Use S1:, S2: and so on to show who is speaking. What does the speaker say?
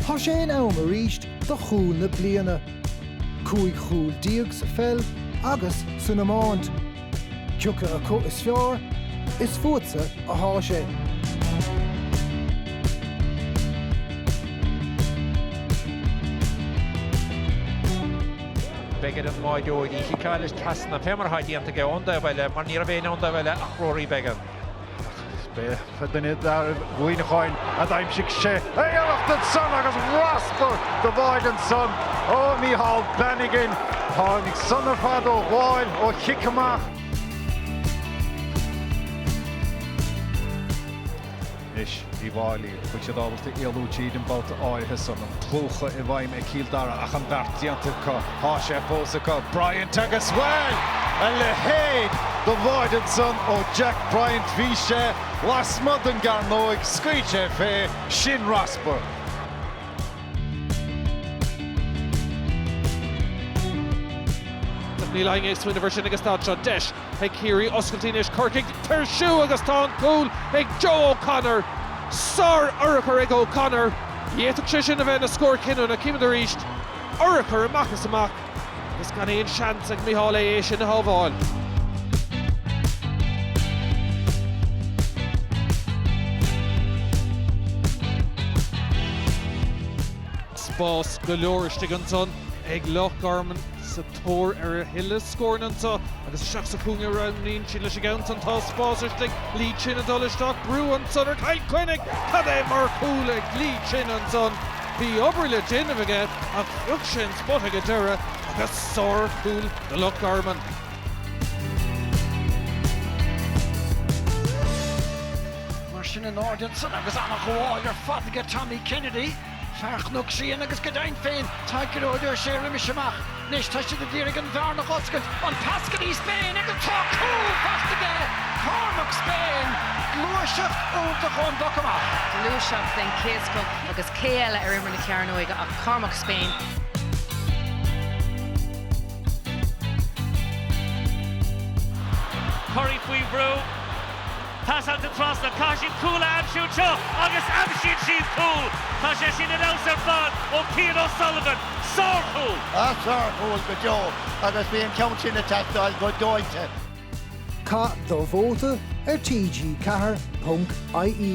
S1: Tá sé in am arís do chúl na bliana. Cúig chúl déag sa pheil agus san iomáint. Cioca acu is fearr, is fútsa athá sé.
S2: Beidh ar an mbáireoir í chiceáil is trasna fé mar atá déanta aige ón dtaobh eile mar ní raibh éinne ón dtaobh eile ach Rory Beggan. Beidh
S3: duine d'fhearaibh Mhuineacháin a d'aimsigh sé é iarracht ansan agus raspar do bháide ansan ó Mícheál Bannigan. Tháinig san ar fad ó ghabháil ó chic amach. Anois, Uíbh Fhailí, bhfuil siad ábalta éalú tríd an babhta áirithe san, an plúchadh i bhfeidhm ag Cill Dara, ach an beart déanta acu. Tá sé fós acu. Bryant agus bhuel! A leithéid de bháide ansan ó Jack Bryant bhí sé, lasmuigh den gcearnóig, scaoil sé fé, sin raspar.
S4: Ach níl éinne ag smaoineamh air sin agus tá anseo deis. Ag Ciarraí oscailte anois, Corcaigh ag tuirsiú agus tá an cúl ag Joe O'Connor. Sár-urchar ag O'Connor. D'fhéadfadh sé sin a bheith ina scór cinniúna. Címid arís. Urchar amach is amach. Agus gan aon seans ag Micheál Aodh é sin a shábháil. Spás go leor istigh ansan ag Loch Garman sa. Tóir ar a thuilleadh scóranna anseo agus isteach sa chúinne a roghnaíonn siad leis an gceann san. Tá spás istigh. Lee Chin ag dul isteach. Brú ansan ar Chill Chainnigh cad é mar chúl ag Lee Chin ansan. Bhí obair le déanamh aige ach phioc sé an spota ag an deireadh agus sárchúl do Loch
S5: Garman. Mar sin in airde ansan agus an-ghabháil ar fad aige Tommy Kennedy. Fear Chnoc Síon agus go deimhin féin tá Gearóid Ó Sé roimis amach. Anois tá siad ag d'iarraidh an bhearna a dh'oscailt, an pas go dtí Spain agus tá cúl faighte aige! Cormac Spain! Gluaiseacht iontach ón bpoc amach. Gluaiseacht den
S6: chéad scoth agus cé eile ar imeall na cearnóige ach Cormac
S7: Spain. Currie faoi bhrú. Pas trasna, caithfidh siad cúl a aimsiú anseo agus aimsíonn siad cúl! Tá sé sin ar fheabhas ar fad ó Cian O'Sullivan. Sárchúl! Ach sárchúl go
S8: deo agus bhí an ceann sin ag teastáil go dóite.
S1: Caith do vóta ar TG4.ie.